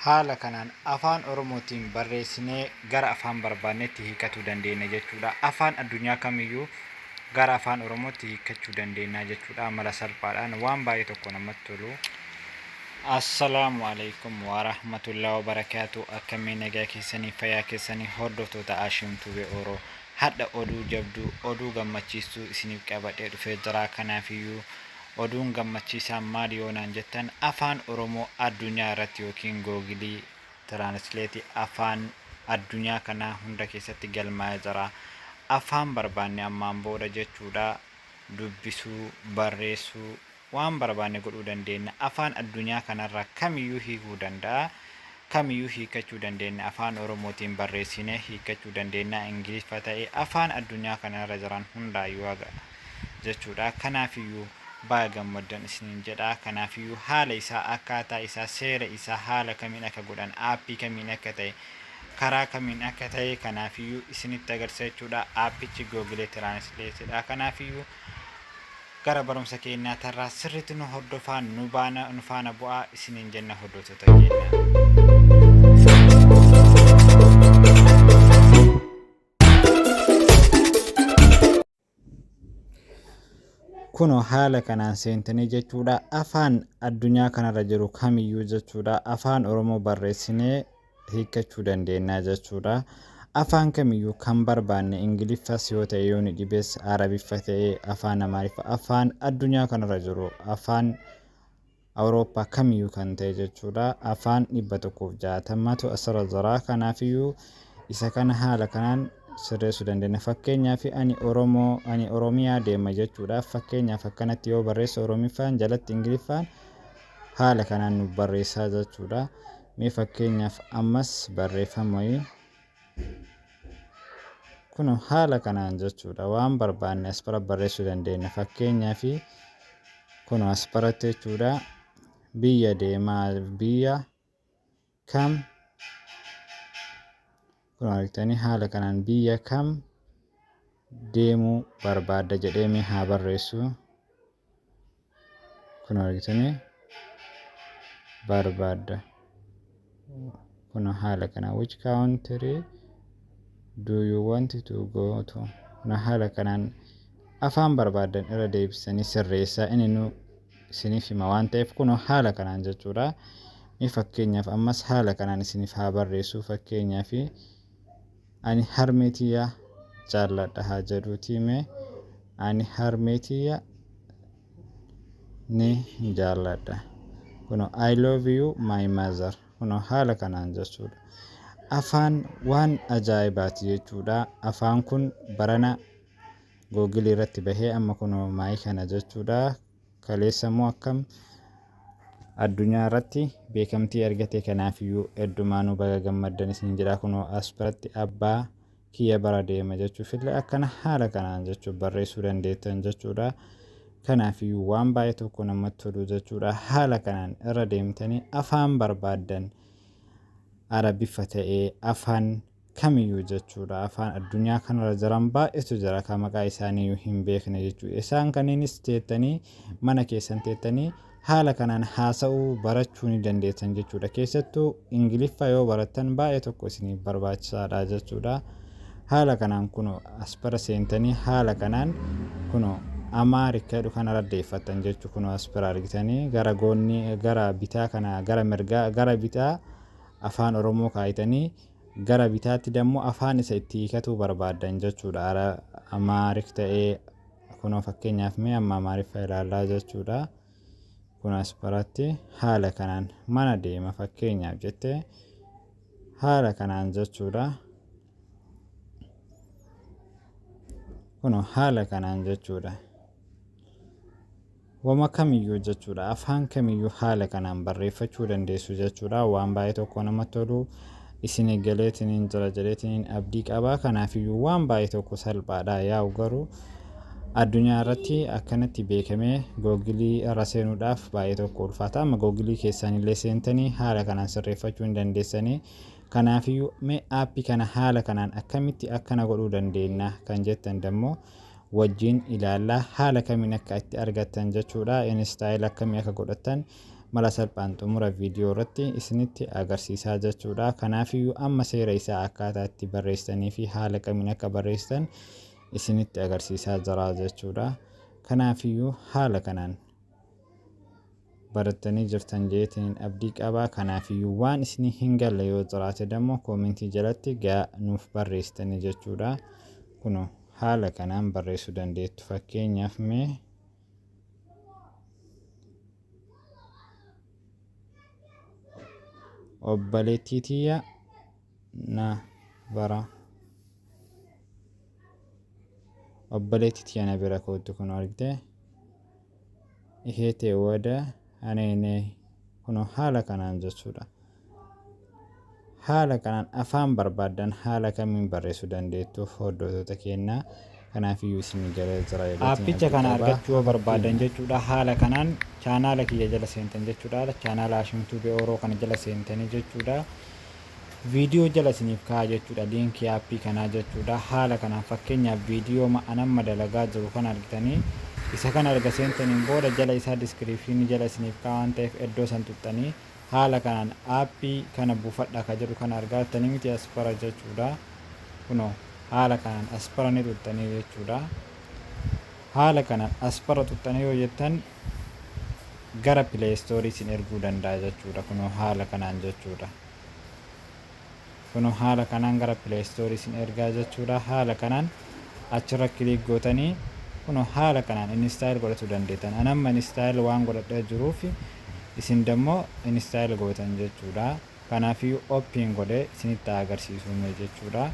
Haala kanaan Afaan Oromootiin barreessinee gara afaan barbaannetti hiikatuu dandeenya jechuudha. Afaan addunyaa kamiyyuu gara afaan Oromootti hiikkachuu dandeenya jechuudha mala salphaadhaan waan baay'ee tokko namatti tolu. Assalaamu alaikum warahmatullahi wabarakaatu akkamii nagaa keessanii fayyaa keessanii hordoftoota Ashim Tube Oro hadha oduu jabduu oduu gammachiistuu isiniif qabadhee dhufee jira kanaafiyyuu Oduun gammachiisaan maali yoo naan jettan Afaan Oromoo addunyaa irratti ykn Google Translate afaan addunyaa kanaa hunda keessatti galmaa'ee jira. Afaan barbaanne ammaan booda jechuudha dubbisuu, barreessuu, waan barbaanne godhuu dandeenna. Afaan addunyaa kanarraa kamiyyuu hiikuu danda'a. kamiyuu hiikkachuu dandeenna afaan oromootiin barreessinee hiikkachuu dandeennaa ingiliffa ta'e afaan addunyaa kana irra jiran hundaayuu haga jechuudha kanaafiyyuu baga gammaddan isiniin jedha kanaafiyyuu haala isaa akkaataa isaa seera isaa haala kamiin akka godhan aappii kamiin akka ta'e karaa kamiin akka ta'e kanaafiyyuu isinitti agarsiisa jechuudha aappichi googilee tiraanisleetidha kanaafiyyuu Gara barumsa keenyaa tarraa sirriitti nu hordofaa nu baana nu faana bu'aa isiniin jenna hordoftoota keenya. Kunoo haala kanaan seentanii jechuudha afaan addunyaa kanarra jiru kamiyyuu jechuudha afaan oromoo barreessinee hiikkachuu dandeennaa jechuudha. Afaan kamiyyuu kan barbaanne Ingiliffas yoo ta'e yoo ni dhibes Arabiffa ta'e afaan Amaariffa afaan addunyaa kanarra jiru afaan Awurooppaa kamiyyuu kan ta'e jechuudha. Afaan dhibba tokkoof jaatamatu asirra jira. Kanaafiyyuu isa kana haala kanaan sirreessuu dandeenya. Fakkeenyaaf ani Oromoo ani Oromiyaa deema jechuudha. Fakkeenyaaf akkanatti yoo barreesse Oromiffaan jalatti Ingiliffaan haala kanaan nu barreessaa jechuudha. Mee fakkeenyaaf ammas barreeffama wayii kuno haala kanaan jechuudha waan barbaanne as bara barreessuu dandeenya fakkeenyaaf kuno as baratti jechuudha biyya deemaa biyya kam Kun argitanii haala kanaan biyya kam deemuu barbaadda jedhee mee haa barreessu. Kun argitanii barbaadda. Kun haala kanaan which country do you want to go to? Kun haala kanaan afaan barbaaddan irra deebisanii sirreessaa inni nu isiniif hima waan ta'eef kunoo haala kanaan jechuudha. Mee fakkeenyaaf ammas haala kanaan isiniif haa barreessu fakkeenyaaf ani harmee tiyya jaalladha haa jedhuutii mee ani harmee tiyya ni jaalladha. Kunoo I love you my mother kunoo haala kanaan jechuudha. Afaan waan ajaa'ibaati jechuudha. Afaan kun barana Google irratti bahee amma kunoo maayii kana jechuudha. Kaleessa immoo akkam addunyaa irratti beekamtii argate kanaafiyyuu heddumaanuu baga gammaddan isin jedha kunoo as biratti abbaa kiyya bara deema jechuuf illee akkana haala kanaan jechuun barreessuu dandeettan jechuudha. Kanaafiyyuu waan baay'ee tokko namatti tolu jechuudha. Haala kanaan irra deemtanii afaan barbaaddan Arabiffa ta'ee afaan kamiyyuu jechuudha afaan addunyaa kanarra jiran baay'eetu jira kan maqaa isaaniiyyuu hin beekne jechuudha isaan kanneenis teettanii mana keessan teettanii haala kanaan haasa'uu barachuu ni dandeessan jechuudha keessattuu ingiliffaa yoo barattan baay'ee tokko isiniif barbaachisaadha jechuudha haala kanaan kun aspara seentanii haala kanaan kun amaarikka jedhu kana raddeeffattan jechuu kun aspara argitanii gara goonni gara bitaa kana gara mirgaa gara bitaa afaan oromoo kaayitanii Gara bitaatti dammo afaan isa itti hiikatuu barbaaddan jechuudha. Ara Amaarik ta'ee kunoo fakkeenyaaf mee amma Amaariffa ilaallaa jechuudha. Kun as biratti haala kanaan mana deema fakkeenyaaf jette haala kanaan jechuudha. Kunoo haala kanaan jechuudha. Wama kamiyyuu jechuudha. Afaan kamiyyuu haala kanaan barreeffachuu dandeessu jechuudha. Waan baay'ee tokko namatti tolu isinii galeetiniin jira jedheetiniin abdii qaba. Kanaafiyyuu waan baay'ee tokko salphaadha. Yaa'u garuu addunyaa irratti akkanatti beekamee googilii irra seenuudhaaf baay'ee tokko ulfaata. Amma googilii keessaan illee seentanii haala kanaan sirreeffachuu hin dandeessanii. Kanaafiyyuu mee aappii kana haala kanaan akkamitti akkana godhuu dandeenya kan jettan dammoo wajjin ilaalla. Haala kamiin akka itti argattan jechuudha. Install akkamii akka godhattan mala salphaan xumura viidiyoo irratti isinitti agarsiisaa jechuudha. Kanaafiyyuu amma seera isaa akkaataa itti barreessanii fi haala kamiin akka barreessitan isinitti agarsiisaa jira jechuudha. Kanaafiyyuu haala kanaan barattanii jirtan jeetiin abdii qabaa kanaafiyyuu waan isinii hin galle yoo jiraate dammoo koomentii jalatti gaa nuuf barreessitanii jechuudha kuno haala kanaan barreessuu dandeettu fakkeenyaaf mee obboleettii tiyya na bara obboleetti tiya na bira kootu kun argite ishee ta'e wada aneene kunoo haala kanaan jechuudha haala kanaan afaan barbaaddan haala kamiin barreessuu dandeettuuf hordoftoota keenyaa Kanaafiyyuu isin gara Israa'eliitiin Aappicha kana abdii qaba. argachuu yoo barbaadan Fakkeenya. jechuudha haala kanaan chaanaala kiyya jala seentan jechuudha chaanaala Hashim Tube Oro kana jala seentanii jechuudha viidiyoo jala isiniif kaa'a jechuudha liinkii aappii kanaa jechuudha haala kanaan fakkeenyaaf viidiyooma an amma dalagaa jiru kana argitanii isa kana erga seentaniin booda jala isaa diskiriipshinii jala isiniif kaa'a waan ta'eef iddoo san tuxxanii Haala kanaan app kana buufadha ka jedhu kana argaa jirtanii miti aspara jechuudha kunoo haala kanaan aspara ni xuxxanii jechuudha haala kanaan aspara xuxxanii yoo jettan gara play store isin erguu danda'a jechuudha kunoo haala kanaan jechuudha Kunoo haala kanaan gara play store isin ergaa jechuudha. Haala kanaan achirra click gootanii kunoo haala kanaan install godhatu dandeetan. An amma install waan godhadhee jiruuf isin dammoo install gootan jechuudha. Kanaafiyyuu open godhe isinitti haa agarsiisuu mee jechuudha.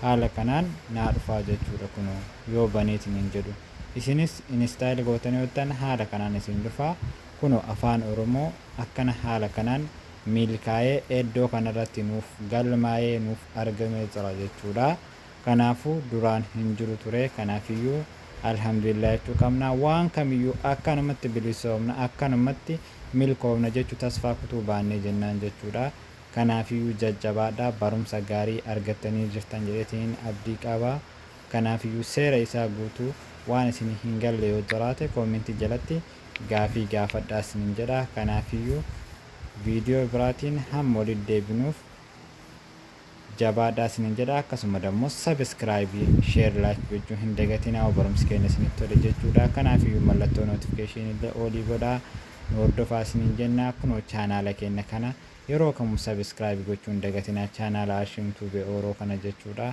Haala kanaan naa dhufaa jechuudha kunoo yoo baneeti nin jedhu. Isinis install gootanii ottan haala kanaan isin dhufaa. Kunoo afaan oromoo akkana haala kanaan milkaa'ee eddoo kanarratti nuuf galmaa'ee nuuf argamee jira jechuudha. Kanaafuu duraan hin jiru ture. Kanaafiyyuu Alhamdulillah jechuu qabna. Waan kamiyyuu akkanumatti bilisoomna, akkanumatti milkoofna jechuu tasfaa kutuu baannee jennaan jechuudha. Kanaafiyyuu jajjabaadhaa barumsa gaarii argattanii jirtan jedheetiin abdii qaba. Kanaafiyyuu seera isaa guutuu waan isinii hin galle yoo jiraate comment jalatti gaafii gaafadhaa isiniin jedha. Kanaafiyyuu viidiyoo biraatiin hamma walitti deebinuuf jabaadhaa isiniin jedha. Akkasuma dammoo subscribe, share, like gochuu hin dagatinaa hoo barumsi keenya isinitti tole jechuudha. Kanaafiyyuu mallattoo notification illee oolii godhaa nu hordofaa isiniin jenna. Kunoo chaanaala keenya kana yeroo kamuu subscribe gochuu hin dagatinaa chaanaala Ashim Tube Oro kana jechuudha.